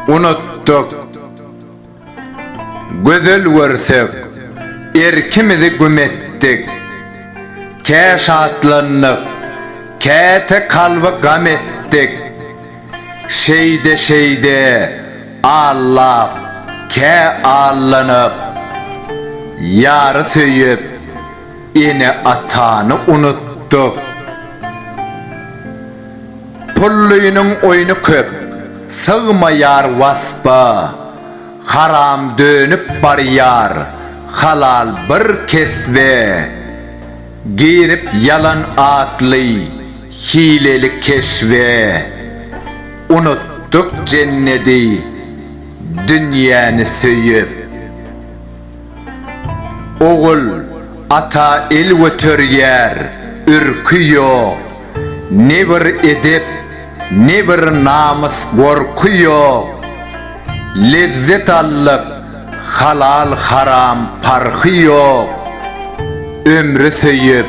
Unutdyk. Gözel görsek, erkimizi güm etdik. Kä şatlandyk, käte kalby gam etdik. Şeýde-şeýde allap, kä allanyp, ýary söýüp, ene-atany unutdyk. Pullynyň oýny köp, sygmaýar waspa, haram dönüp barýar halal bir kesbe. Girip ýalan atly hileli keşbe, Unutdyk jennedi, dünýäni söýüp. Ogul, ata el göterýär, ürki ýok. Ne bir edep, ne bir namys gorky ýok, Lezzet allyk, halal haram parhy ýok, Ömri söýüp,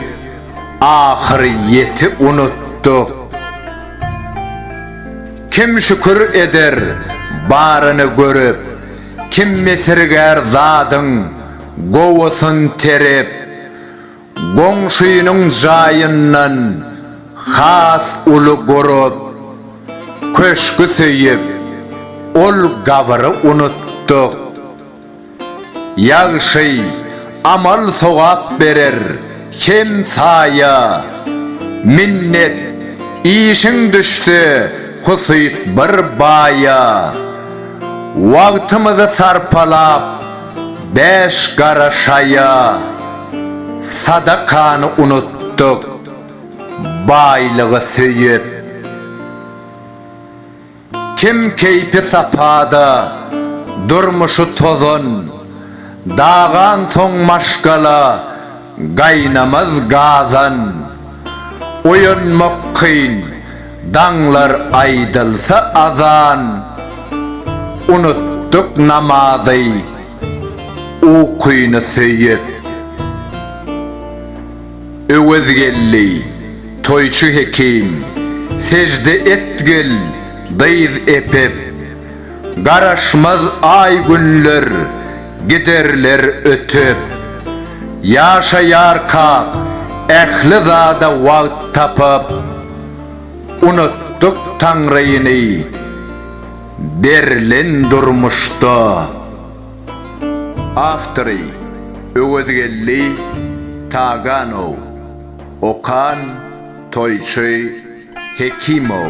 ahyr ýeti unutdyk. Kim şükür eder, baryny görüp, Kim mesirgär zadyň, gowusyn terip. Goňşynyň jaýyndan has uly gurup, köşgi söýüp, ol gabyry unutdyk. Ýagşy amal-sogap berer hem saýa, minnet işiň düşse husyt bir baýa. Wagtymyzy sarpalap. Bäş gara şaýa sadakany unutdyk, baýlygy söýüp. Kim keýpi sapada, durmuşy tozan, dagansoň maşgala, gaýnamaz gazan. Oýanmak kyn, Daňlar aýdylsa azan, unutdyk namazy, ukyny söýüp. Öwezgeldi, toýçy hekim, sejde etgil, dyz epip. Garaşmaz aý-günler, Giderler ötüp, ýaşaýarka ähli zada wagt tapyp, unutdyk Taňryny berlen durmuşda. Awtory, Öwezgeldi Taganow. Okan, Toýçy Hekimow.